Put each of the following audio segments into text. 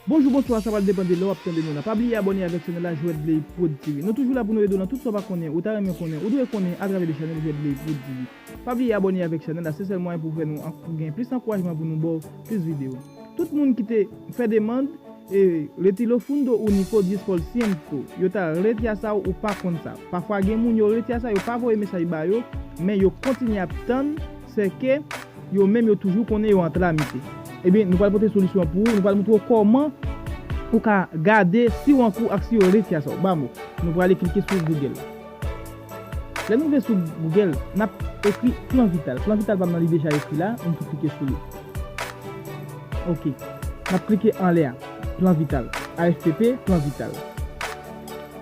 Bonjou bonswa sa pral depan de lè wap tande nou la pa bliye abòne avèk chanèl la jwèt bley prod tv nou toujou la pou nou ede w nan tout sa w pa konnen ou ta renmen konnen ou dwe konnen atravè de chanèl jwèt bley prod tv pa bliye abòne avèk chanèl la se sèl mwayen pou fè nou ank pou gen plis ankourajman pou nou baw plis video tout moun ki te fè demand e reti lo fundo unico diez por ciento yo ta reti a sa ou pa konn sa pafwa gen moun yo reti a sa yo pa voye mesaj ba yo men yo kontinye ap tann sè ke Yo menm yo toujou konnen yo antra misye. Ebyen nou pral pote solisyon an pou ou, nou pral moutre w kòman ou ka gade si w an kou ak si yo retya sa w ba mo. Nou prale klike sou Google. Lè nou rive sou Google, n ap ekri plan vital. Plan vital pa m nan li deja ekri la, nou tou klike sou li. Ok. N ap klike anlè a, plan vital. AFPP, plan vital.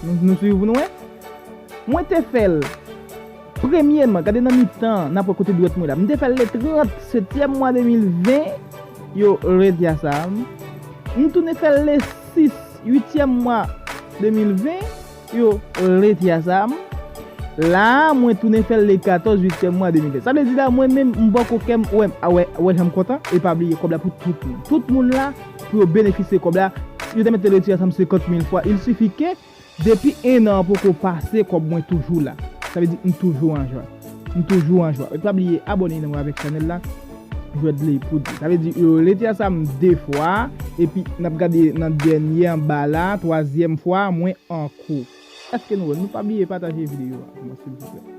Nou swiv ou nou wè? Mwen te fè l, premyeman, gade nan mitan an, n ap wè kote dwèt mwen la. M te fè l le 30 setyèm mwa 2020, yo redi a sa a. M tounen fè l le 6 uityèm mwa 2020, yo redi a sa a. La a, mwen tounen fè l le 14 uityèm mwa 2020. Sa vle di la, mwen menm, m bò ko kè m, wè m, a wè, wè jan m kontan? E pa bliye kòb la pou tout moun. Tout moun la. Pou yo benefisye kòb la, yo te mèt te retire sa m 50 mil fwa. Il sifi ke, depi 1 an poko pase kòb mwen toujou la. Sa vle di m toujou an jwa. M toujou an jwa. Pa bliye abòne nan avèk chanèl la, Jwèdley Poudi. Sa vle di yo retire sa m 2 fwa, epi n ap gade nan dènye anba la, twazyèm fwa, mwen an kou. Èske nou wè l? Nou pa bliye pataje videyo a pou mwen silvouplè.